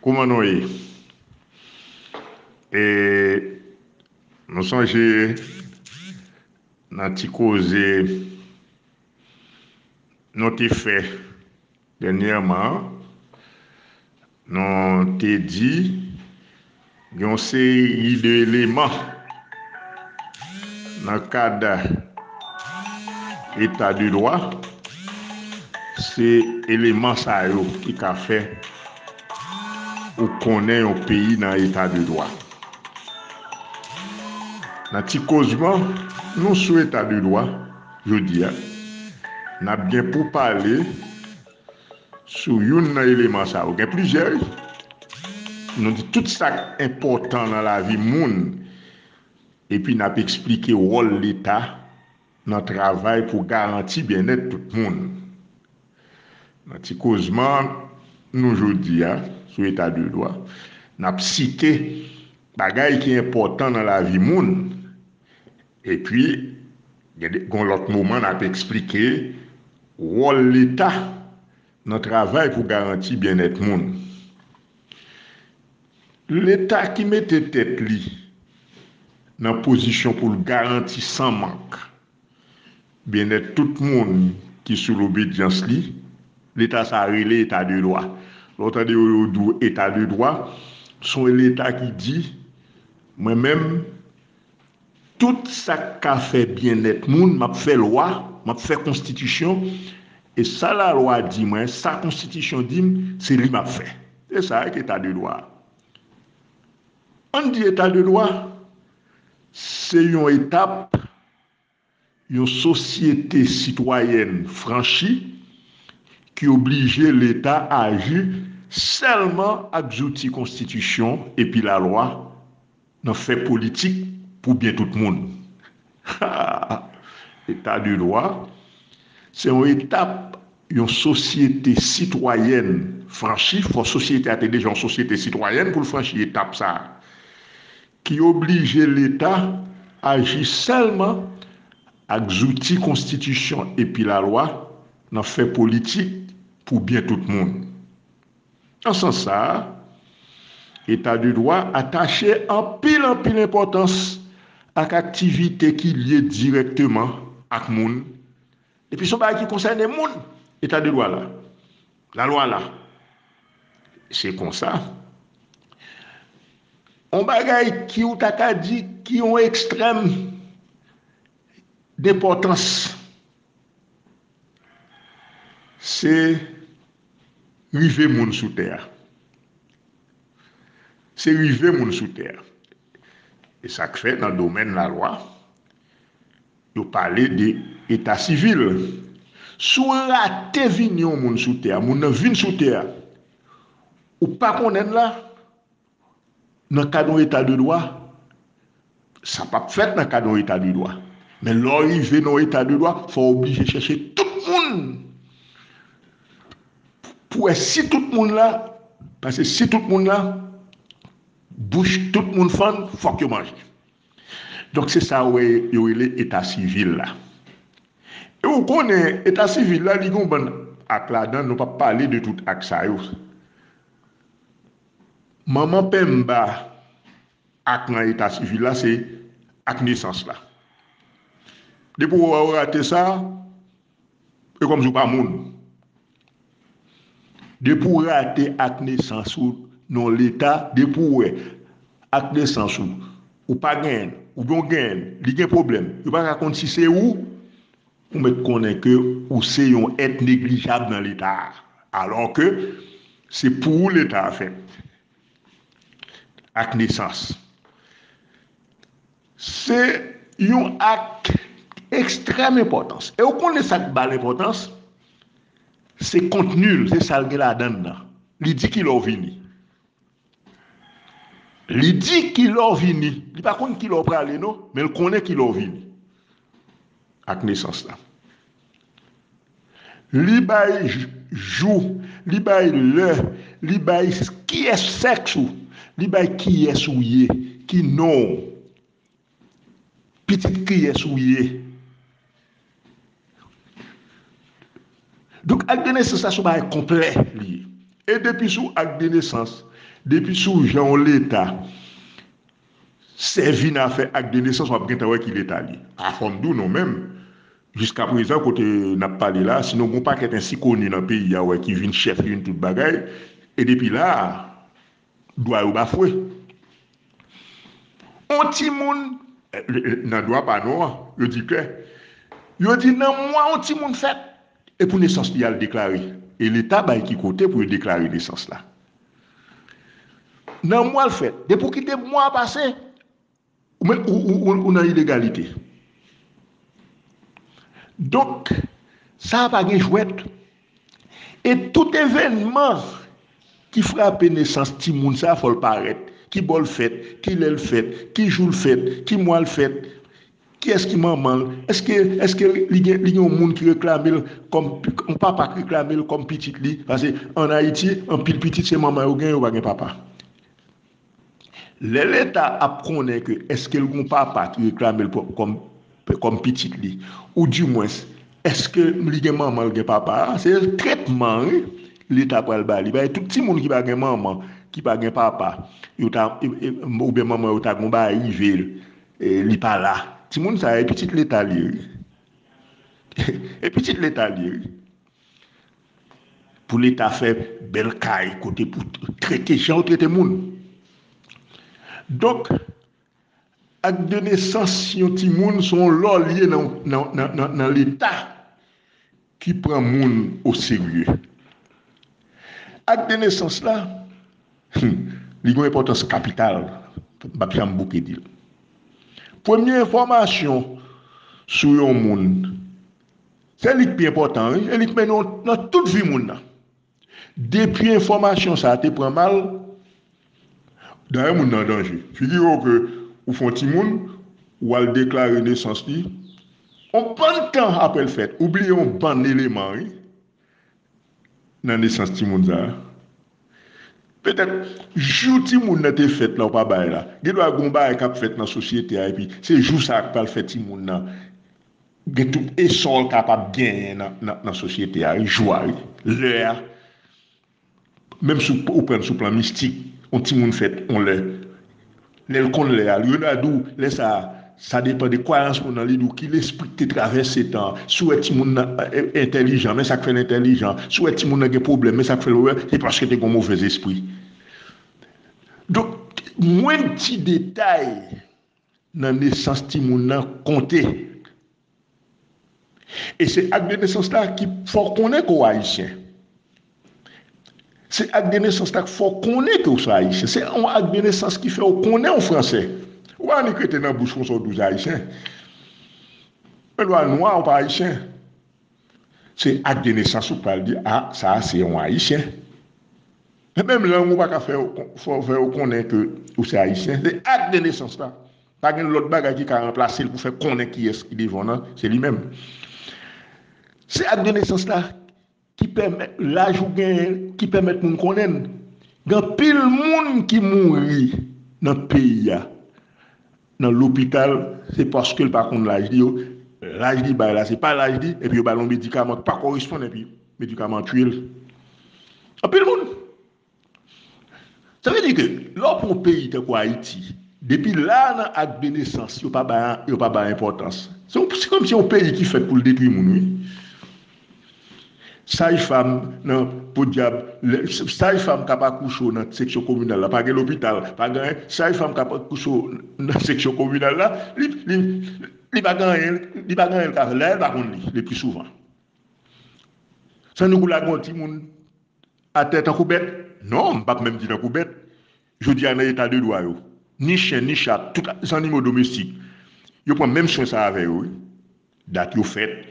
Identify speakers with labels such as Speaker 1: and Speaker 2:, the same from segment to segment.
Speaker 1: Kouman nou ye? E nou sonje nan ti koze nou te fè dènyèman an, nou te di. Gen yon seri de eleman nan kad eta de dwa, se eleman sa yo ki ka fè ou konnen yon peyi nan eta de dwa. Nan ti kozman nou sou eta de dwa jodi a, n ap gen pou pale Sou youn nan eleman sa yo. Gen plizyè wi. Nou di tout sa k enpòtan nan lavi moun epi n ap esplike wòl Leta nan travay pou garanti byennèt tout moun. Nan ti kozman nou jodi a sou Eta de dwa, n ap site bagay ki enpòtan nan lavi moun. Epi, gen yon lòt moman n ap esplike wòl Leta nan travay pou garanti byennèt moun. Leta ki mete tèt li nan pozisyon pou l garanti san mank byennèt tout moun ki sou lobedyans li, Leta sa a rele Eta de dwa. Lè w tande yo, yo di w Eta de dwa, s on Leta ki di, mwen menm, Tout sa k ka fè byennèt moun, m ap fè lwa, m ap fè konstitisyon, e sa lalwa di mwen, sa konstitisyon di m, se li m ap fè. Se sa a ki Eta de dwa a. An n di Eta de dwa se yon etap. Yon sosyete sitwayèn franchi ki oblije Leta aji sèlman ak zouti konstitisyon epi lalwa nan fè politik pou byen tout moun. Ha! Eta de dwa se yon etap yon sosyete sitwayèn franchi, fò sosyete a te deja yon sosyete sitwayèn pou l franchi etap sa a, ki oblije Leta aji sèlman ak zouti konstitisyon epi lalwa nan fè politik pou byen tout moun. Nan sans sa a, Eta de dwa atache anpil anpil enpòtans ak aktivite ki lye dirèkteman ak moun, Depi son bagay ki konsène moun, eta de dwa la, la lwa la. Se konsa, on bagay ki ou ta ka di ki on ekstrèm denpòtans, se rive moun sou tè a. Se rive moun sou tè a. E sa k fè nan domèn la lwa, Yo pale de eta sivil. Si w rate vini yon moun sou tè a, moun nan vin sou tè a, ou pa konnen l la, nan kad yon eta de dwa, sa p ap fèt nan kad yon eta de dwa. Men lè w rive nan yon eta de dwa, fò w oblije chèche tout moun pou wè si tout moun la, pase si tout moun la, bouch tout moun fann, fòk yo manje. Donk se sa ou wè yo rele eta sivil la. E ou konnen eta sivil la li gen yon bann ak ladan nou pap pale de tout ak sa yo. Manman penmba ak nan eta sivil la se ak nesans la. Depi ou wè ou rate sa. E kòmsi ou pa moun. Depi ou rate ak nesans ou nan leta, depi ou wè ak nesans ou, ou pa genyen l, oubyen ou genyen l, li gen pwoblèm, yo pa ka konn si se ou, ou mèt konnen ke ou se yon èt neglijab nan leta a. Alò ke se pou ou leta a fèt. Ak nesans. Se yon ak ekstrèm enpòtans. E ou konnen sa k ba l enpòtans? Se kontni l, se sa l gen ladan l nan. Li di ki lè w vini. Li di ki lè w vini. Li pa konn ki lè w prale non, men l konnen ki lè w vini ak nesans la. Li bay jou, li bay lè, li bay kiyès sèks ou, li bay kiyès ou ye, ki non w, pitit kiyès ou ye. Donk ak de nesans la son bagay konplè li ye. E depi sou ak de nesans, depi sou jan yon leta sèvi nan afè ak de nesans wap gentan wè ki leta li. Afòm di w non menm Jiska prezan kote n ap pale la, sinon gen yon pakèt ensikoni nan peyi a wè ki vin chèf youn tout bagay, e depi la a, dwa yo bafwe. On timoun, nan dwa pa nou an, yo di ke, yo di nan mwa on timoun fèt, e pou nesans li y al deklare, e leta bay ki kote pou yo deklare nesans la. Nan mwa l fèt, depi w kite mwa a pase, Ou menm ou nan ilegalite. Donk, sa a pa gen jwèt. E tout evènman ki frape nesans timoun sa a fò l parèt. Ki bò l fèt? Ki lè l fèt? Ki jou l fèt? Ki mwa l fèt? Kiyès ki manman l? Èske li gen yon moun ki reklame l kòm, yon papa ki reklame l kòm pitit li? Pase ann Ayiti, anpil pitit se manman yo gen, yo pa gen papa. Lè leta ap konnen ke eske l gon papa ki reklame l kòm pitit li ou di mwens eske li gen manman l gen papa a se tretman wi leta pral ba li bay tout timoun ki pa gen manman ki pa gen papa yo ta ou byen manman yo ta gon bagay rive l li pa la timoun sa e pitit leta li ye wi e pitit leta li ye wi. Pou leta fè bèl kay kote pou trete jan yo trete moun. Donk, ak de nesans yon timoun se yon lò li ye nan leta ki pran moun o serye. Ak de nesans la, hum, li gen yon enpòtans kapital, m pap janm bouke di l. Premye enfòmasyon sou yon moun Se li k pi enpòtan wi e li k mennen w nan tout vi moun nan. Depi enfòmasyon sa te pran mal, dayè moun nan an danje. Figire w ke ou fè yon timoun, ou al deklare nesans li, yon bann tan apre l fèt, ou bliye yon bann eleman wi nan nesans timoun sa. Petèt jou timoun nan te fèt la ou pa bay la. Gen dwa gen yon bagay k ap fèt nan sosyete a epi se jou sa k pral fè timoun nan Gen tout esò l kapab genyen nan sosyete a wi, jwa wi, lè a. Menm si ou pran l sou plan mistik, yon timoun fèt yon lè, lè l konn lè a, yo ta di w lè sa a, sa depan de kwayans moun nan, li di w ki lespri ki te travèse tan an. Si w wè timoun nan entèlijan, men sa k fè l entèlijan. Si w wè timoun nan gen pwoblèm, men sa k fè l, se paske te gen yon movèzespri. Donk, mwenn ti detay. nan nesans timoun nan konte. E se ak de nesans la ki fè w konnen ke w ayisyen. Se ak de nesans la ki fè w konnen ke w se ayisyen. Se yon ak de nesans ki fè w konnen w franse. Ou pa annik rete nan bouch konsa w di w se ayisyen. Menm lè w nwa ou pa ayisyen. Se ak de nesans ou pral di a sa a se yon ayisyen. Nan menm lang ou pa ka fè yo konnen ke ou se Ayisyen, se ak de nesans la. Pa gen lòt bagay ki ka ranplase l pou fè konnen kiyès ki devan w nan, se li menm. Se ak de nesans la ki pèmèt laj ou genyen, ki pèmèt moun konnen n. Gen anpil moun ki mouri nan peyi a nan lopital se paske l pa konn laj li yo laj li bay la se pa laj li epi yo ba l yon medikaman ki pa koresponn epi medikaman an tiye l anpil moun sa vle di ke lè w pran yon peyi tankou ayiti depi la nan ak de nesans yo pa bay enpòtans se kòm si se yon peyi ki fèt pou l detwi moun wi. Saj fam nan podyab lè saj fam kap akouche w nan seksyon kominal la pa gen lopital pa gen anyen saj fam kap akouche w nan seksyon kominal la li li li pa gen anyen li pa gen anyen li ka fè dayè l pa konn li le pli souvan san nou k ou lage yon timoun atè tankou bèt non m pap menm di tankou bèt Jodi a nan eta de dwa yo, ni chen, ni chat, tout zannimo domestik, yo pran menm swen sa avè yo wi. Dat yo fèt,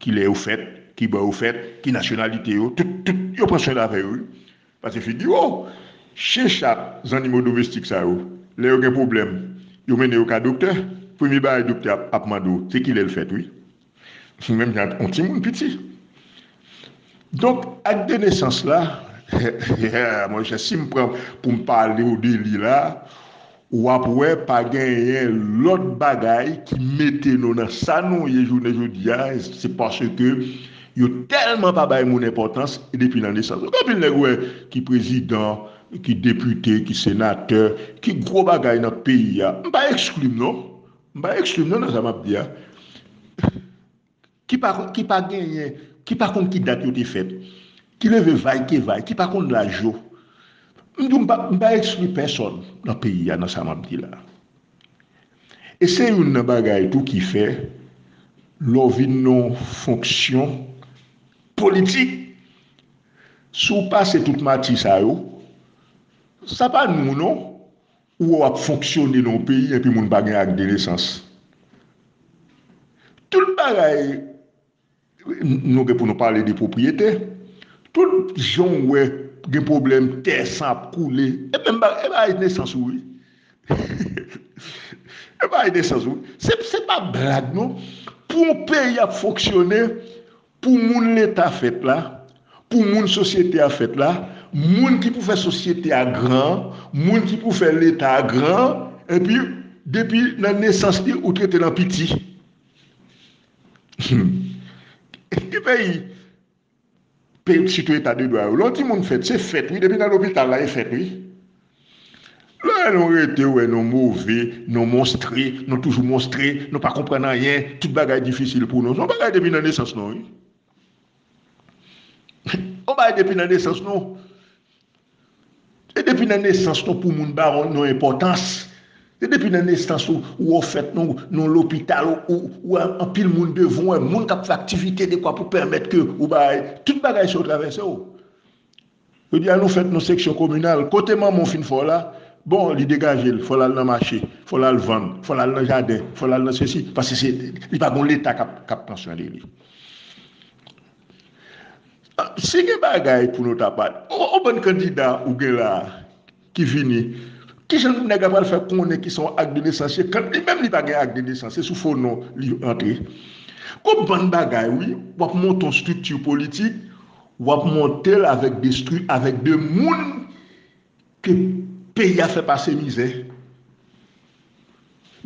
Speaker 1: kilè yo fèt, ki bò yo fèt, ki nasyonalite yo, tout, tout, yo pran swen avè yo wi. Pase figure w, chen, chat, zannimo domestik sa yo, lè yo gen pwoblèm, yo mennen yo ka doktè, premye bagay doktè ap mande w, se kilè l fèt wi. Menm jan ak yon timoun piti. Donk, ak de nesans la, yeah, monchè, si m pran pou m pale w de li la, w ap wè pa genyen lòt bagay ki mete nou nan sa nou ye jounen jodi a, se paske yo tèlman pa bay moun enpòtans depi nan nesans. Donk anpil nèg ou wè ki prezidan, ki depite, ki senatè, ki gwo bagay nan peyi a, m pa ekskli m non, M pa eksklim non nan sa map di a ki pa ki pa genyen ki pa konn ki dat yo te fèt ki leve vay ke vay ki pa konn laj yo m di w m pa m pa ekskli pèsòn nan peyi a nan sa map di la e se youn nan bagay tou ki fè lè w vin nan w fonksyon politik si w pase tout mati sa yo sa pa nou non Ou wè wap fonksyone nan yon peyi enpi moun pa gen akdenesans. Tout bagay nou gen pou nou pale de pwopriyete, tout jan w wè gen pwoblèm tè san ap koule, e menm bagay e bagay nesans ou wi. E bagay nesans ou wi. Se pa blag non. Pou yon peyi ap fonksyone, Pou moun Leta fèt la, pou moun sosyete a fèt la, moun ki pou fè sosyete a gran an, moun ki pou fè Leta a gran an, enpi, depi nan nesans li ou trete l an piti. Humm. Ki peyi, peyi sitou Etadedwa yo, lè w di moun fèt, se fèt wi, depi nan lopital la e fèt wi. Lè nou rete wè nou move, nou monstre, nou toujou monstre, nou pa konprann anyen, tout bagay difisil pou nou. Se yon bagay depi nan nesans nou wi. Yon bagay depi nan nesans nou. Se depi nan nesans nou pou moun ba nou enpòtans. Se depi nan nesans ou, ou o fèt, nou lopital, ou anpil moun devan ou, moun k ap fè aktivite dekwa pou pèmèt ke ou bay, tout bagay sa yo travèse ou. Jodi a nou fèt nou seksyon kominal, kote manman w fin fè w la, bon li degaje l, fò l al nan mache, fò l al vann, fò l al nan jaden, fò l al nan sesi, paske se li pa gon leta k ap pran swen de li. Si gen bagay pou nou ta pale, on bann kandida ou gen la a, ki vini. Kijan nèg la pral fè konnen ki son ak de nesans ye kant li menm li pa gen ak de nesans se sou fo non li antre. Gon bann bagay wi wap monte yon strikti politik wap montel avèk de stri avèk de moun ke peyi a fè pase mizè.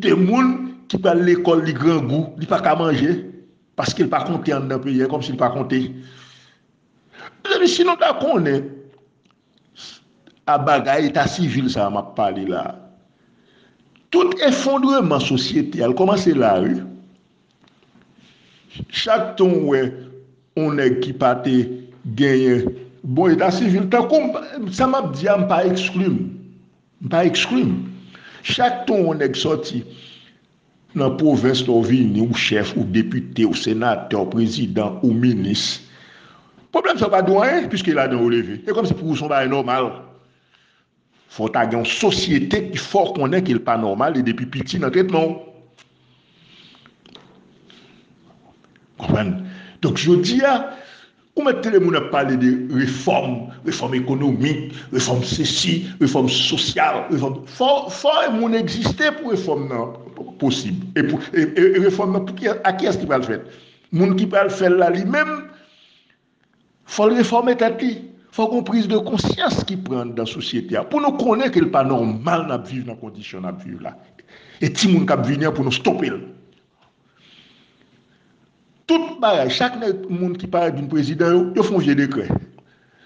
Speaker 1: De moun ki pral lekòl li grangou li paka manje paskel pa konte andan peyi a ekomsi li pa konte. Mezanmi si nou ta konnen A bagay eta sivil sa a m ap pale la a, tout efondreman sosyete a l kòmanse la wi. Chak tan ou wè yon nèg ki pa te genyen bon eta sivil, tankou m, sa m ap di a m pa ekskli m, m pa ekskli m. Chak tan yon nèg sòti. Nan pwovens la w vini ou chèf, ou depite, ou senatè, ou prezidan, ou minis. Pwoblèm sa yo pa di w anyen piske ladan ou leve. E kòmsi pou ou se yon bagay nòmal. Fò w ta gen yon sosyete ki fè w konnen ke l pa nòmal e depi piti nan tretman w. Konprann? Donk jodi a. Ou mèt tande moun ap pale de refòm, refòm ekonomik, refòm sesi, refòm sosyal, refòm, fò moun egziste pou refòm nan posib. E refòm nan pou kiyès, a kiyès li pral fèt? Moun ki pral fè l la li menm fò l refòme tèt li, fò gon priz de konsyans ki pran anndan sosyete a pou nou konnen ke l pa nòmal n ap viv nan kondisyon n ap viv la. E timoun k ap vini an pou nou stope l. Tout bagay, chak nèg moun ki parèt vin prezidan yo, yo fè yon vye dekrè.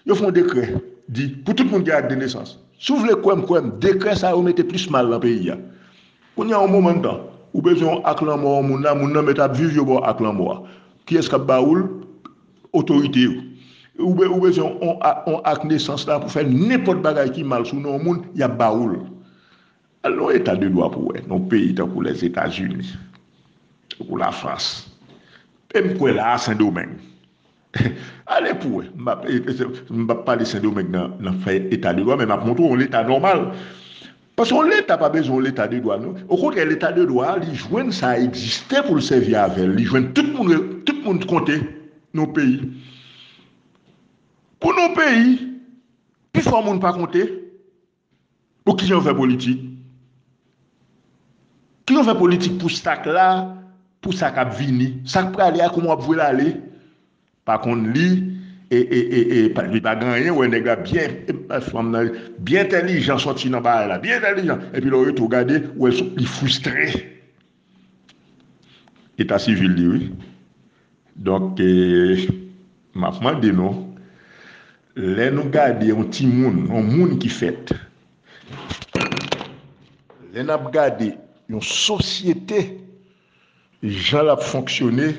Speaker 1: Yo fè yon dekrè di pou tout moun gen ak de nesans. Si w vle kwè m, kwè m, dekrè sa yo mete plis mal nan peyi a. Kounye a yon moman tan, ou bezwen yon ak lanmò yon moun la, moun nan mèt ap viv yo ba w ak lanmò a. Kiyès k ap ba ou l? Otorite yo. Ou ou bezwen yon ak nesans la pou fè nenpòt bagay ki mal sou non yon moun, y ap ba ou l. Al nan yon eta de dwa pou wè, nan yon peyi tankou Lèzetazini, tankou Lafrans, e m kwè la a Sendomeng. Ale pou wè, m pa p pale Sendomeng nan fè eta de dwa men m ap montre w yon leta nòmal. Paske yon leta pa bezwen yon leta de dwa non. Okontrè leta de dwa a li jwenn sa egziste pou l sèvi avè l, li jwenn tout moun tout moun konte nan yon peyi. Pou nan yon peyi pifò moun pa konte, Bon kijan yo fè politik? Kijan yo fè politik pou sak la, pou sa kap vini? Sak prale a kouman wap vwel ale? Pa konn li e li pa gen anyen wè nèg la byen fanm nan byen entèlijan sòti nan bagay la byen entèlijan epi lè w rete w gade ou wè li fristre. Eta sivil li wi. Donk m ap mande nou, lè nou gade yon timoun, yon moun ki fèt, lè n ap gade yon sosyete jan l ap fonksyone,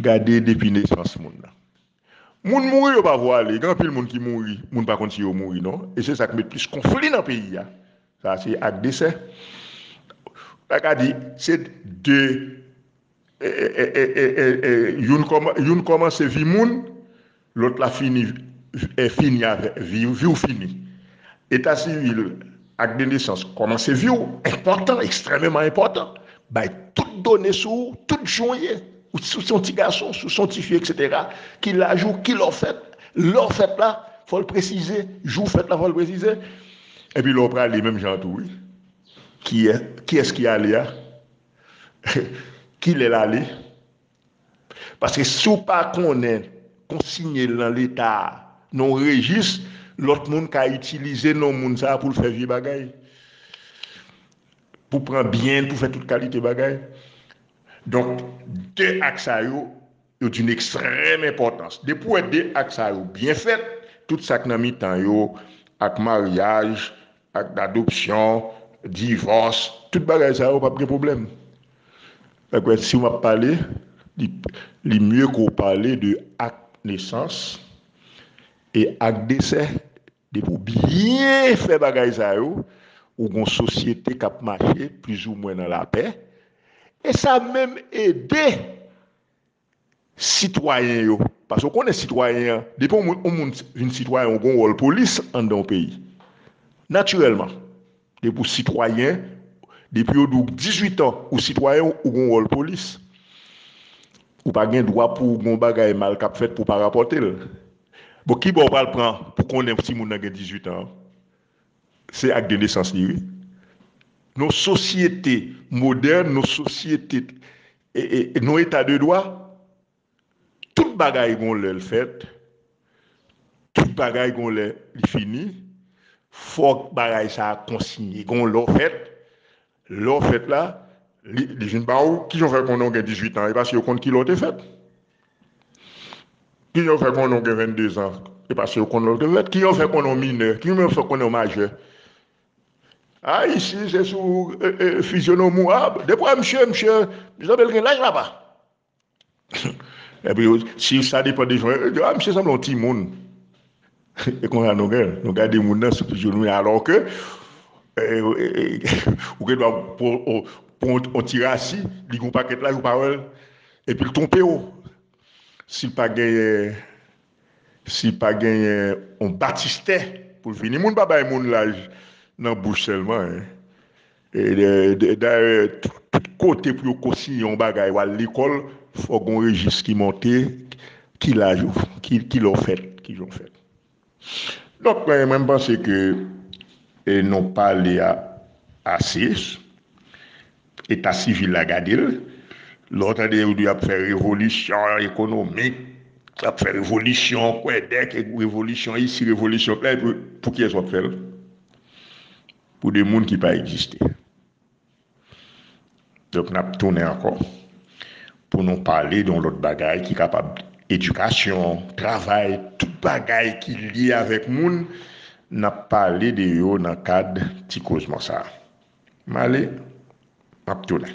Speaker 1: gade depi nesans moun nan. Moun mouri yo pa vwale, gen anpil moun ki mouri moun pa konn si yo mouri non e se sak met plis konfli nan peyi a, sa se ak desè ou ta ka di se 2 youn kòmanse vi moun lòt la fini fini avèk viw viw fini eta sivil Ak de nesans kòmanse vi'w enpòtan, ekstrèmeman enpòtan, bay tout done sou ou, tout jan w ye, si w se yon ti gason, si w se yon ti fi eksetera, ki laj ou, ki lè w fèt, lè w fèt la fò l presize, jou w fèt la fò l presize, epi lè w prale menm jan an tou wi, kiyès ki ale a, kilè l ale. Paske si w pa konnen konsinye l nan leta a nan yon rejis, lòt moun ka itilize non moun sa a pou l fè vye bagay, pou pran byen l, pou fè tout kalite bagay. Donk, de ak sa yo, yo di n ekstrèm enpòtans. Depi w wè de ak sa yo byen fèt, tout sa k nan mitan yo ak maryaj, Ak adopsyon, divòs, tout bagay sa yo pap gen pwoblèm. Fèk wè si ou map pale, li mye ke ou pale de ak nesans e ak desè. Depi ou byen fè bagay sa yo, ou gen yon sosyete kap mache plizoumwen nan lapè e sa menm ede. sitwayen yo paske ou konnen sitwayen an depi yon moun yon moun vin sitwayen ou gon wòl polis anndan yon peyi natirèlman depi ou sitwayen depi yo di w 18 an ou sitwayen ou gon wòl polis ou pa gen dwa pou gon bagay mal k ap fèt pou w pa rapòte l bon ki bò ou pral pran pou konnen si moun nan gen 18 an se ak de nesans li wi nan yon sosyete modèn nan yon sosyete E nou eta de dwa? Tout bagay gon lè l fèt, tout bagay gon lè li fini, fòk bagay sa a konsinye. Gon lè w fèt, lè w fèt la, li vin ba w, kijan w fè konnen w gen dizuitan? E paske yo konn kilè w te fèt. Kijan w fè konnen w gen vennndezan? E paske yo konn lè w te fèt. Kijan w fè konnen w minè? Kijan w fè konnen w majè? Ay isi se sou fizyonom ou ap depi wè misye misye sanble l gen laj la pa epi si sa depan de jan yo di a misye sanble yon timoun e konsa nou gen nou gade moun nan sou fizyonom li alò ke ou gen dwa pran yon ti rasi li gen yon pakèt laj ou pa wè l epi l twonpe w si l pa genyen. Si pa genyen on batistè pou l vini. Moun pa bay moun laj nan bouch sèlman hein. Dayè tout kote pou yo konsiyen on bagay wal lekòl fòk gon rejis ki monte ki laj ou ki lè w fèt kijan w fèt. Donk mwen mwen panse ke nou pale a ase. Eta sivil la gade l. Lè w tande yo di y ap fè revolisyon ekonomik, y ap fè revolisyon kwèdèk, revolisyon isi, revolisyon la, epi pou kiyès w ap fè l? Pou de moun ki pa egziste. Donk n ap tounen ankò. Pou nou pale de yon lòt bagay ki kapab edikasyon, travay, tout bagay ki lye avèk moun, n ap pale de yo nan kad ti kozman sa. M ale, m ap tounen.